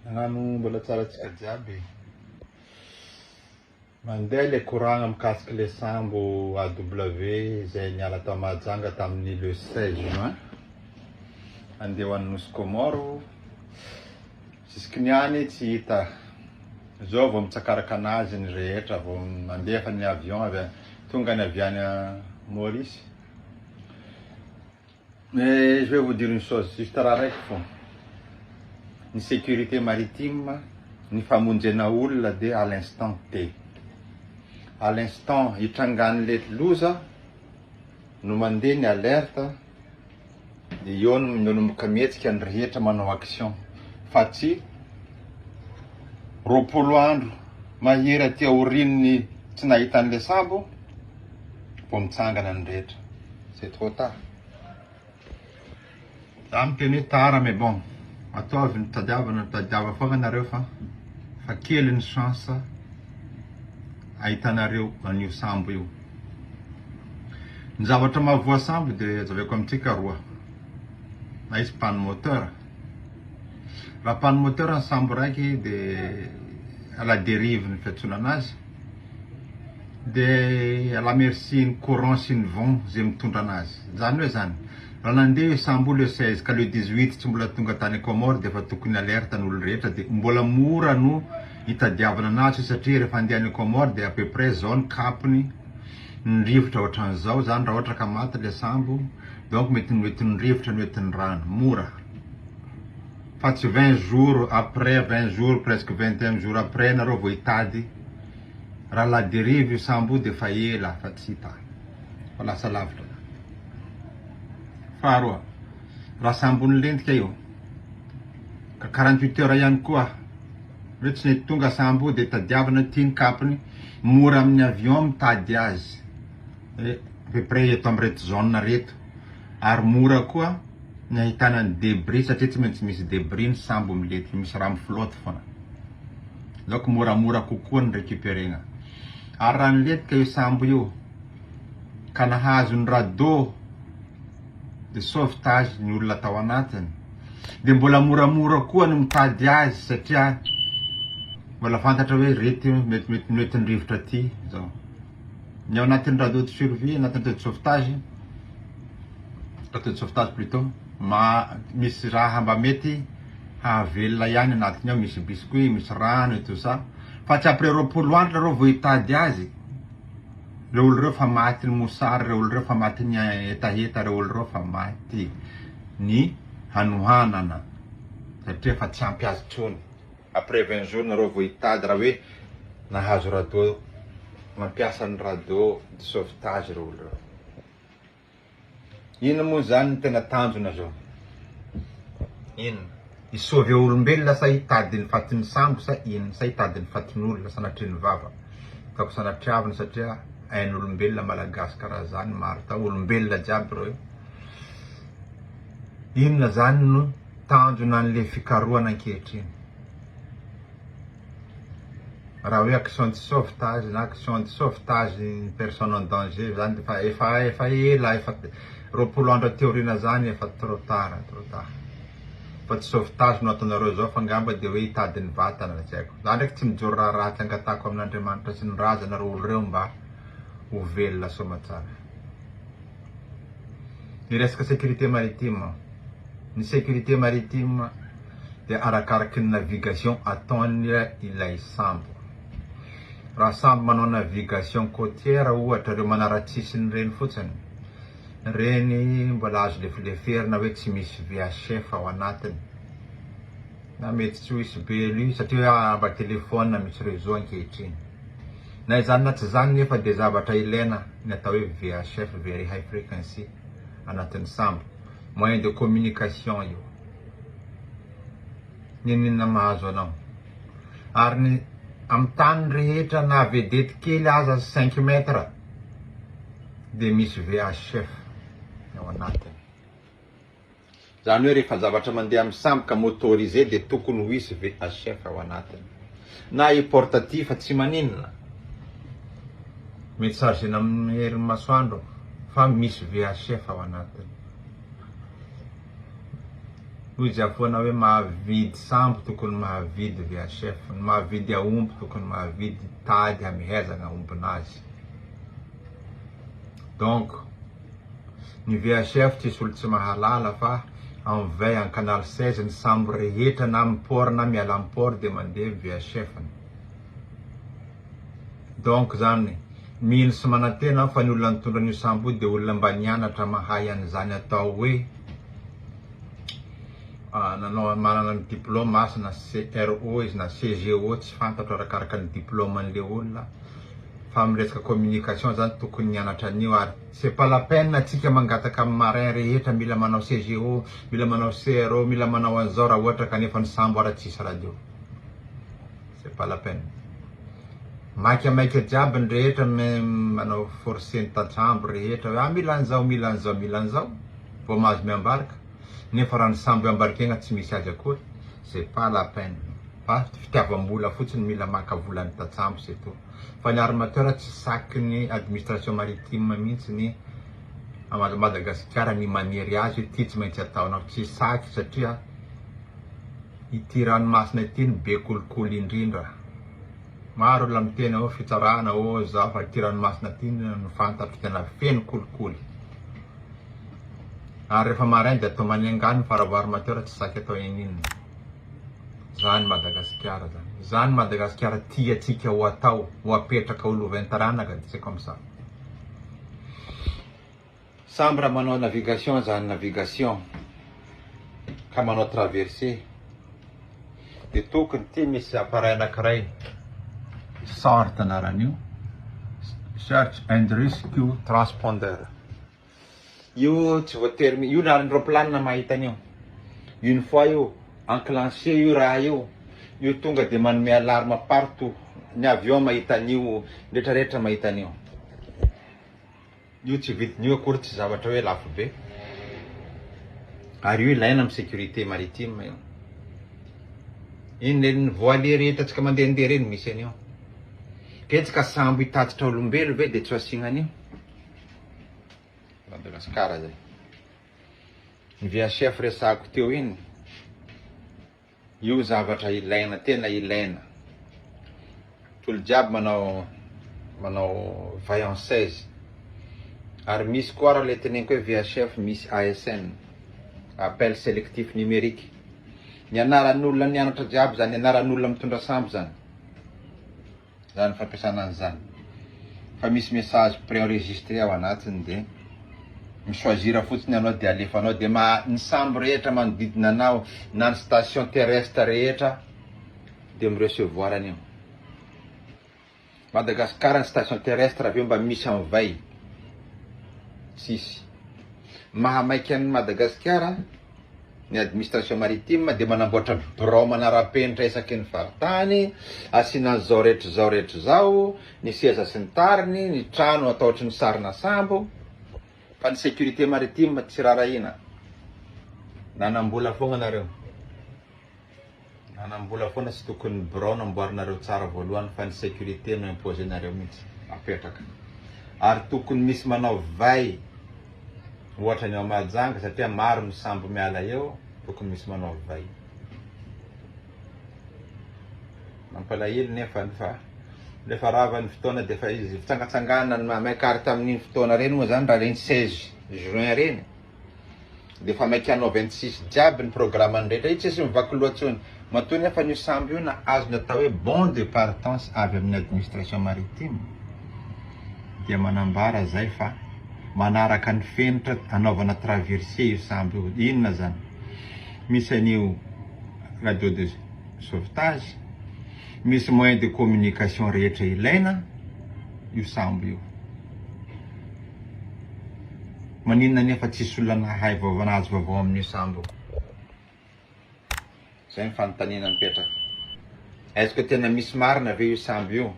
Nagnano mbola tsara tsika jiaby e. Mandeha le koragna mikasiky le sambo AW izay niala tao Mahajanga tamin'ny le seize juin handeha ho any Nosy Kômôro, zisiky ny any tsy hita, zao vao mitsakaraka anazy ny rehetra vao nandefa ny avion avy tonga ny avy any Maurice. Mais je vais vous dire une chose, juste raha raiky fôna, ny sécurité maritime, ny famonjena olona dia à l'instant T, à l'instant hitrangan'le loza no mandeha ny alerte dia eo no manomboka mihetsika ny rehetra manao action fa tsy roapolo andro mahery aty aorian'ny tsy nahitan'le sambo, vao mitsangana ny rehetra, c'est trop tard. Za miteny hoe tara mais bon ataovy ny tadiavana tadiava foagna nareo fa fa kely ny chance ahitanareo an'io sambo io. Ny zavatra mahavoa sambo de azaveko amintsika roa, na izy panne moteur, raha panne moteur ny sambo raiky de à la dérive ny fiantsoana anazy, dia à la merci ny courant sy ny vent izay mitondra anazy. Izany hoe izany, raha nandeha io sambo io le 16 ka le 18 tsy mbola tonga tany Comores dia efa tokony alerte ny olona rehetra dia mbola mora no hitadiavana anazy io satria rehefa handeha any Comores dia à peu près izao ny cap-ny, ny rivotra ohatran'izao izany raha ohatra ka maty le sambo, donc mety mety ny rivotra no mety ny rano, mora fa tsy 20 jours après, 20 jours presque 21 jours après nareo vao hitady. Raha la derive io sambo io dia efa ela fa tsy hita, fa lasa lavitra zany. Faharoa, raha sambon'ny lentika io ka quarante huit heures ihany koa hoe tsy nety tonga sambo io dia tadiavina aty ny kapony, mora amin'ny avion mitady azy à peu près eto amin'ireto zone reto ary mora koa. ny ahitana ny debris satria tsy maintsy misy debris ny sambo milety misy rano flotte foana donc moramora kokoa ny recuperena ary raha nilentika io sambo io ka nahazo ny radeau de sauvetage ny olona tao anatiny dia mbola moramora koa ny mitady azy satria mbola fantatra hoe rety mety mety noentin-drivotra aty zao Ny ao anatin'ny radio de survie, anatin'ny radio de sauvetage, radio de sauvetage plutot, misy raha mba mety hahavelona ihany anatiny ao, misy biscuit, misy rano et tout ça, fa tsy après roapolo andro nareo vao hitady azy, reo olo reo efa maty ny mosary, reo olo reo efa maty ny hetaheta, reo olo reo efa maty ny hanohanana, satria efa tsy ampy azy intsony. Après vingt jours nareo vao hitady raha hoe nahazo rado mampiasa ny rado de sauvetage ireo olo ireo. Inona moa zany ny tena tanjona zao? Inona? Hi sauver olombelona sa hitady ny fatin'ny sambo sa inona? Sa hitady ny fatin'olona sanatrian'ny vava ataoko sanatriavina satria ain'olombelona malagasy karaha zany marta olombelona jiaby ireo. Inona izany no tanjona an'le fikarohana ankehitriny? Raha hoe action de sauvetage na action de sauvetage une personne en danger izany dia efa efa ela efa roapolo andro aty aoriana izany efa trop tard trop tard. Fa tsy sauvetage no ataonareo izao fa angamba dia hoe hitady ny vatana tsy haiko. Za ndraiky tsy mijoro raha ratsy angatahako amin'Andriamanitra sy ny razana ireo olo ireo mba ho velona soamatsara. ny resaka sécurité maritime, ny sécurité maritime dia arakaraky ny navigation ataony ilay sambo, raha sambo manao navigation côtière ohatra ireo manaratsisiny ireny fotsiny, ireny mbola azo lefileferina hoe tsy misy VHF ao anatiny. Na mety tsy ho hisy be an'io satria hoe hahaba telefaonina misy réseau ankehitriny. Na izany na tsy izany nefa dia zavatra ilaina ny atao hoe VHF, Very High Frequency, anatin'ny sambo. Moyen de communication io. N'inon'inona mahazo anao. Ary ny amin'ny tany rehetra na vedety kely aza cinq mètres dia misy VHF ao anatiny. Izany hoe rehefa zavatra mandeha amin'ny sambo ka motorisé dia tokony ho hisy VHF ao anatiny. Na i porte ity fa tsy maninona. Mety chargena amin'ny herin'ny masoandro fa misy VHF ao anatiny. Hoy i Jiafoana hoe mahavidy sambo tokony mahavidy VHF, ny mahavidy aomby tokony mahavidy tady hamehezana aombin'azy. Donc. Ny VHF tsisy olo tsy mahalala fa en vin en canal 16 ny sambo rehetra na am port na miala am port de mandeha ny VHF ny. Donc zany mino sy manantena aho fa ny olona nitondra an'io sambo io de olona mba nianatra mahay an'izany atao hoe nanao manana ny diplôme asa na CRO izy na CGO tsy fantatro arakaraka ny diplôme an'le olona. fa amin'ny resaka communication zany tokony nianatra an'io ary c'est pas la peine antsika mangataka amin'ny marin rehetra mila manao CGO, mila manao CRO, mila manao an'izao raha ohatra ka nefa ny sambo ary tsisy radio. C'est pas la peine. Maika maika jiaby ny rehetra mais manao forcer ny tantsambo rehetra hoe ah mila an'izao, mila an'izao, mila an'izao vao mahazo miambarika. nefa raha ny sambo iambarikegna tsy misy azy akory c'est pas la peine fa fitiavambola fotsiny mila maka vola ny tatsambo c'est tout fa ny armateur tsy saky ny administration maritime mintsy ny Madagasikara ny manery azy hoe ty tsy maintsy ataonao tsy saky satria ity ranomasina ity no be kolikoly indrindra. Maro olona miteny ao fitsarana ô za fa aty ranomasina aty no fantatro tena feno kolikoly ary refa marain de atao manenga ny faravaro mateo ra tsy saky atao ininona zany madagasikara zany zany madagasikara tia tsika ho atao ho apetraka ho lovain taranaka de c'est comme ça Samby raha manao navigation aza any navigation ka manao traverser dia tokony ity misy appareil anankiray sort anaran'io search and rescue transponder io tsy voatery io na ny roplanina mahita an'io une fois io enclenché io raha io io tonga dia manome alarme partout ny avion mahita an'io retraretra mahita an'io Io tsy vidiny io akory tsy zavatra hoe lafo be ary io ilaina amin'ny sécurité maritime io. Iny lelon'ny voilier rehetra tsika mandehandeha ireny misy an'io. Betsaka sambo hitatitra olombelo ve dia tsy ho asiana an'io. Madagasikara izay. Ny VHF resahako teo iny. Io zavatra ilaina, tena ilaina. Tolo jiaby manao manao vaillances. Ary misy koa raha le teneniko hoe VHF misy ASN, appel selectif numérique. Ny anaran'olona nianatra jiaby zany, anaran'olona mitondra sambo zany. zany fampiasana an'i zany fa misy message préenregistré ao anatiny de mi choisir fotsiny anao de alefanao de ma ny sambo rehetra manodidina anao na ny station terrestre rehetra de mi recevoir an'io Madagascar ny station terrestre avy eo mba misy an'vay tsisy maha maika an'i Madagasikara ny administration maritime dia manamboatra birao manara-penitra isaky ny faritany, asiana an'izao rehetra izao rehetra izao, ny seza sy ny tariny, ny trano atao ohatry ny sarina sambo, fa ny sécurité maritime tsy rarahiana. Nanam-bola foagna nareo. Manambola foana tsy tokony ny birao namboarinareo tsara voalohany fa ny sécurité no imposer nareo mihitsy apetraka ary tokony misy manao vay ohatra ny ao Mahajanga satria maro ny sambo miala eo tokony misy manao vay mampalahelo nefa ny fa rehefa rava ny fotoana dia efa izy fitsangatsanganana ny mahamay ka ary tamin'iny fotoana ireny moa izany raha ireny 16 juin ireny Dia efa maika hanao vingt six jiaby ny programany rehetra io tsisy mivaky loha tsony. Matoa nefa an'io sambo io na azony atao hoe bon de partance avy amin'ny administration maritime dia manambara zay fa manaraka ny fenitra anaovana traverser io sambo io. Inona zany? Misy an'io radio de sauvetage, misy moyen de communication rehetra ilaina io sambo io. Maninona anefa tsisy olona nahay vaovao nahazo vaovao amin'io sambo? Zay ny fanontaniana mipetraka. Est-ce que tena misy marina ve io sambo io?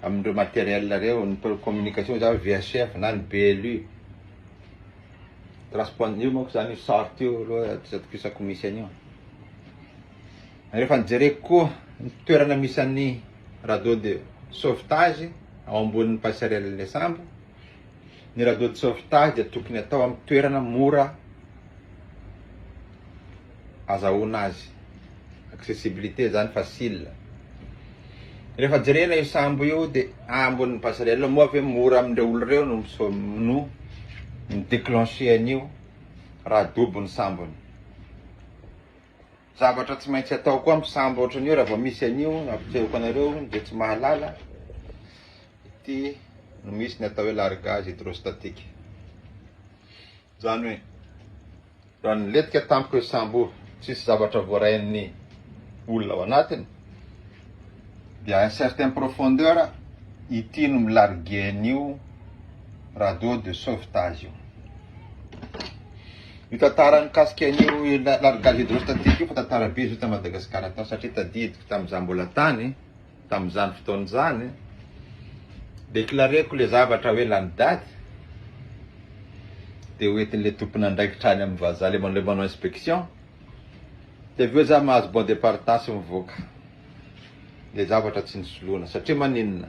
Amin'ireo matériels reo, ny communication za VHF na ny BLU. Transpon io manko zany io sort io aloha tsy atokisako misy an'io. Rehefa nijereko koa ny toerana misy an'ny radeau de sauvetage ao ambonin'ny passerelle sambo, Ny radio de sauvetage dia tokony atao amin'ny toerana mora azahoana azy. Accessibilité zany facile. Rehefa jerena io sambo io dia ambonin'ny passerelle moa ve mora amin'ireo olona ireo no no mi-déclencher an'io raha dobo ny sambony. Zavatra tsy maintsy atao koa misambo ohatran'io raha vao misy an'io nampitsehoko anareo izay tsy mahalala ity no misy ny atao hoe largage hydrostatique izany hoe raha nilentika tampoka io sambo io tsisy zavatra voarain'ny olona ao anatiny dia un certain profondeur ity no milargue an'io radeau de sauvetage io Io tantara mikasika an'io largage hydrostatique io fa tantara be izy io tany Madagasikara tany satria tadidiko tamin'ny izaho mbola tany tamin'izany fotoana izany déclareko le zavatra hoe lany daty dia ho entin'ilay tompon'andraikitra any amin'ny vazaha le manao manao inspection dia avy eo za mahazo bon de partage mivoaka le zavatra tsy nisoloana satria maninona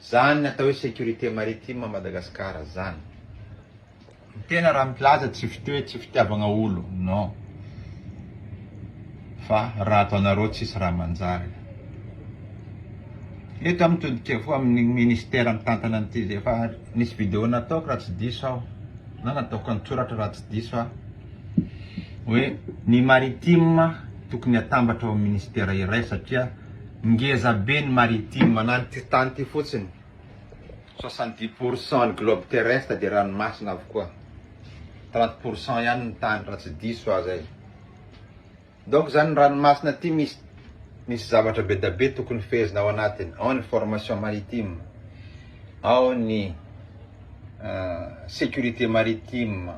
Zany atao hoe sécurité maritime à Madagascar zany. Ny tena raha milaza tsy fitoe tsy fitiavagna olo non fa raha ataonareo tsisy raha manjary. Eto am todikevko am ministère mitantana an ty efa nisy vidéo nataoko raha tsy diso aho na nataoko an tsoratra raha tsy diso aho hoe ny maritime tokony atambatra ao am ministère iray satria Ngeza be ny maritime na ny ty tany ty fotsiny, soixante dix pour cent ny globe terrestre dia ranomasina avokoa, trente pour cent ihany ny tany raha tsy diso aho zay. Donc zany ny ranomasina ty misy misy zavatra be da be tokony fehezina ao anatiny, ao ny formation maritime, ao ny securite maritime,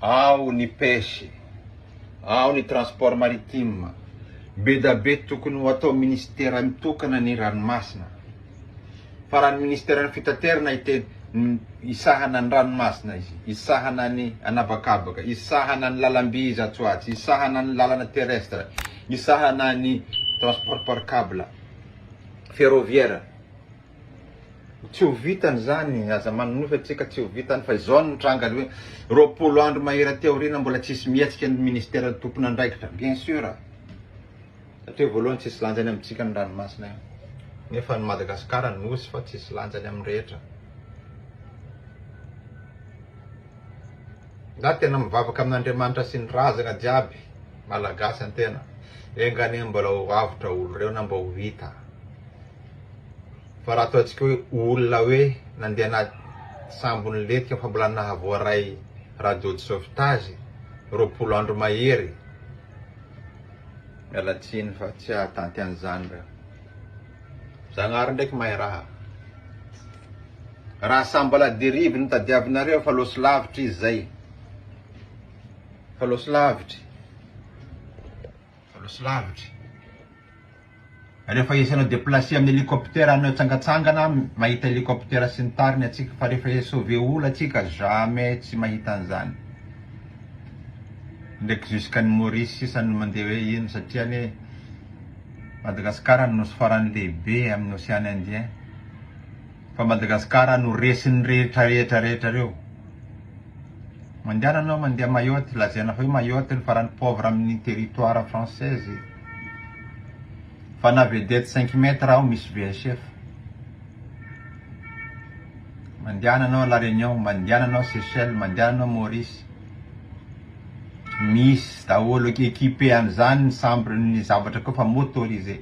ao ny pêche, ao ny transport maritime, bedabe tokony ho atao ministera mitokana ny ranomasina, fa raha ny ministeran'ny fitaterana iteny hisahana ny ranomasina izy, hisahana ny anabakabaka, hisahana ny lalamby izy atsy ho atsy, hisahana ny lalana terrestre, hisahana ny transport par cable, ferroviaire. Tsy ho vitany izany, aza manonofy antsika tsy ho vitany fa izao no nitranga aloha hoe roapolo andro mahery aty aoriana mbola tsisy mihetsika ny ministeran'ny tompon'andraikitra bien sur satria voalohany tsisy lanjany amintsika ny ranomasina io nefa ny Madagascar nosy fa tsisy lanjany amin'ny rehetra za tena mivavaka amin'Andriamanitra sy ny razana jiaby malagasy antena enganie mbola ho avotra olo reo na mba ho vita fa raha ataontsika hoe olona hoe nandeha anaty sambon'ny lentika fa mbola nahavoaray radio de sauvetage roapolo andro mahery, miala tsiny fa tsy hahatanty an'izany reo. Zagnahary ndraiky mahay raha. Raha samy mba la dérive no tadiavinareo fa loso lavitry izy zay. Fa loso lavitry. Fa loso lavitry. Rehefa esenao deplacer amin'ny helicoptère anao tsangatsangana mahita helicoptère sy ny tariny atsika fa rehefa e sauver olo atsika jamais tsy mahita an'izany ndreky jusqu'an'i Maurice sisa no mandeha hoe ino satria anie Madagascar no nosy farany lehibe amin'ny ocean indien Fa Madagascar no resin'ny rehetra rehetra rehetra reo. Mandehana anao mandeha Mayotte lazaina fa io Mayotte no farany pauvre amin'ny territoire française. Fa na vedette cinq mètres aho misy VHF. Mandehana anao La Réunion, mandehana anao Seychelles, mandehana anao Maurice. Misy daholo équipé an'izany ny chambre ny zavatra koa fa motorisé.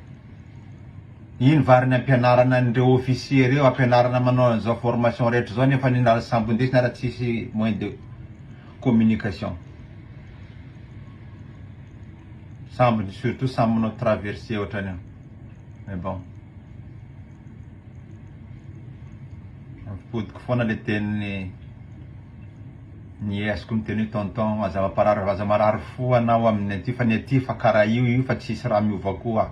Iny va ary ny ampianarana an'ireo officiers ireo, ampianarana manao an'izao formation rehetra izao nefa ny lasa sambondesina ary tsisy moyen de communication. Sambony surtout samy manao traverse ohatrany eo. Mais bon. Ampipodik foana le tenin'ny Ny azoko miteny hoe tonton aza mamparary aza marary fo anao aminy aty fa ny aty efa kara io io fa tsisy raha miova koa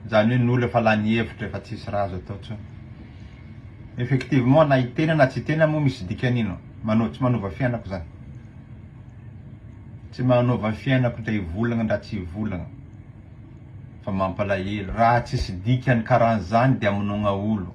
zany hoe ny olo efa lany hevitra efa tsisy raha azo atao tsony effectivement na itena na tsy itena mo misy dikany ino manao tsy manova fiainako zany tsy manova fiainako ndra hivolagna ndra tsy hivolagna fa mampalahelo raha tsisy dikany karanzany de amonogna olo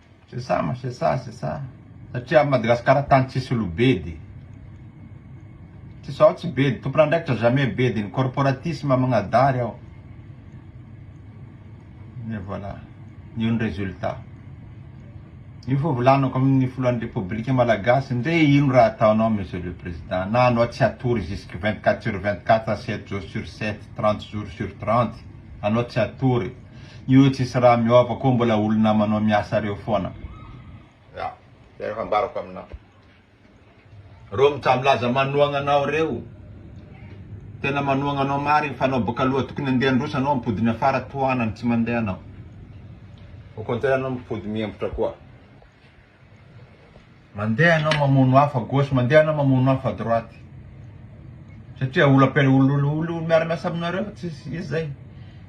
C'est ça ma c'est ça c'est ça satria Madagascar tany tsisy olo bedy tsisy ao tsy bedy tompon'andraikitra jamais bedy ny corporatisme magnadary ao et voilà io ny resultat io fo volanako amin'ny filohan'ny repoblika malagasy ndre ino raha ataonao monsieur le président na anao tsy atory jusque 24 sur 24 7 jours sur 7 30 jours sur 30 anao tsy atory Io tsisy raha miova koa mbola olona manao miasa reo foana. Ya, zay efa ambarako aminao. Reo mitsamilaza manohagna anao reo, tena manohagna anao marigny fa anao boka aloha tokony andeha handroso anao ampody ny afara tohanany tsy mandeha anao. Au contraire anao mipody mihembotra koa. Mandeha ianao mamono afo à gauche, mandeha ianao mamono afo à droite. Satria olo ampi- olo- olo- olo miara miasa aminareo fa tsisy izy zay.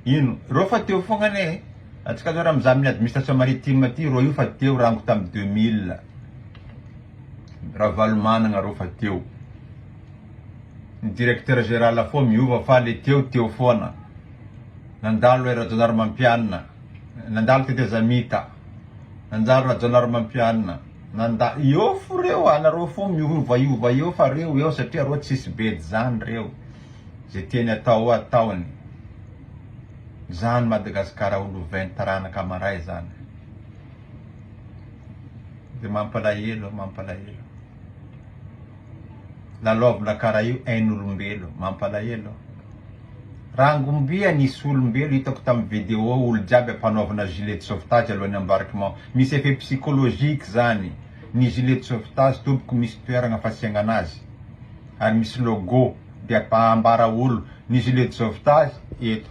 Ino? Roa fa teo fogna anie e. Antsika zao raha mizaha amin'ny administration maritime aty, roa io fa teo rango tamin'ny deux mille. Ravalomanagna roa fa teo. Ny directeur géral foa miova fa le teo teo foana. Nandalo ry Rajaonarimampianina, nandalo tetezamita. Nanjary Rajaonarimampianina nanda eo fo reo anareo fo miovaova eo fa reo eo satria reo tsisy bedy zany reo ze tiany atao eo ataony zany Madagascar ho lovainy taranaka maray zany de mampalahelo mampalahelo. lalaovina karaha io ain'olombelo mampalahelo rangombia nisy olombelo hitako tamin'ny video olo jiaby ampanaovina gilet de sauvetage alohan'ny embarquement misy effet psychologique zany ny gilet de sauvetage tompoko misy toeragna fasiagnana azy ary misy logo de ampahambara olo ny gilet de sauvetage eto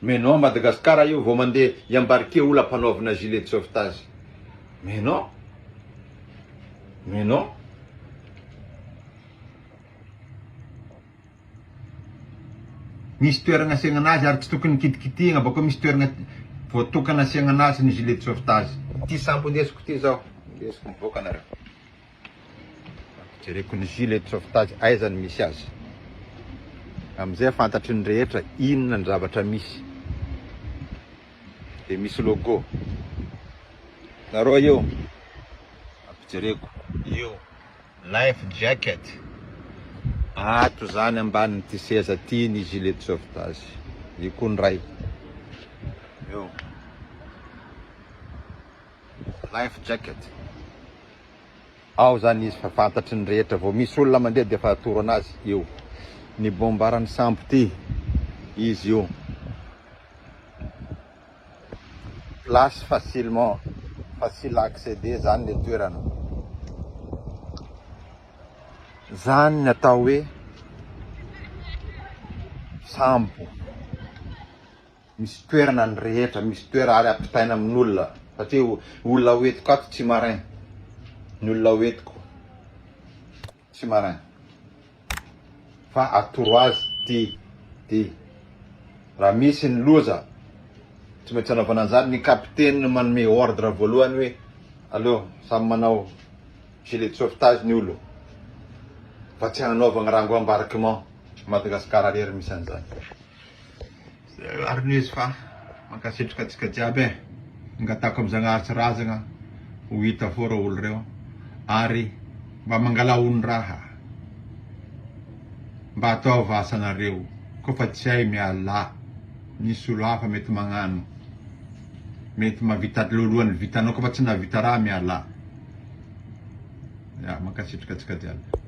Mais non Madagascar io vao mandeha i embarquer ola mpanaovina gilet de sauvetage mais non mais non misy toeragna asiagna anazy ary tsy tokony kitikitihigna bakeo misy toeragna voatokana asiagna anazy ny gilet de sauvetage. Ity sambo ndesiko ity zao ndesiko mivoaka nareo. Jereko ny gilet de sauvetage aiza no misy azy. Amin'izay fantatry ny rehetra inona ny zavatra misy. Dia misy logo. Nareo eo. Ampijereko. Io. Life jacket. Ato izany ambanin'ity seza ity ny gilet de sauvetage. Io koa ny iray. Eo. life jacket ao zany izy fa fantatry ny rehetra vao misy olona mandeha dia efa atoro anazy io ny bombaran'ny sambo ty izy io place facilement facile à accéder zany le toerana zany ny atao hoe sambo misy toerana ny rehetra, misy toerana ary ampitaina amin'olona satria olona ho entiko ato tsy marin, ny olona ho entiko tsy marin fa atoro azy ty ty raha misy ny loza tsy maintsy anaovana an'izany, ny kapiteny no manome ordre voalohany hoe aleo samy manao gilet de sauvetage ny olona fa tsy hanaovana rango embarquement, Madagascar irery misy an'izany. Ary ny izy fa mankasitraka antsika jiaby eh! Angatahiko am Zagnahary tsy razagna ho hita fô reo olo reo ary mba mangala hondraha mba ataova asanareo ko fa tsy hay mialà misy olo hafa mety magnano mety mavita lohalohany vitanao ko fa tsy nahavita raha mialà ya mankasitraka antsika jiaby.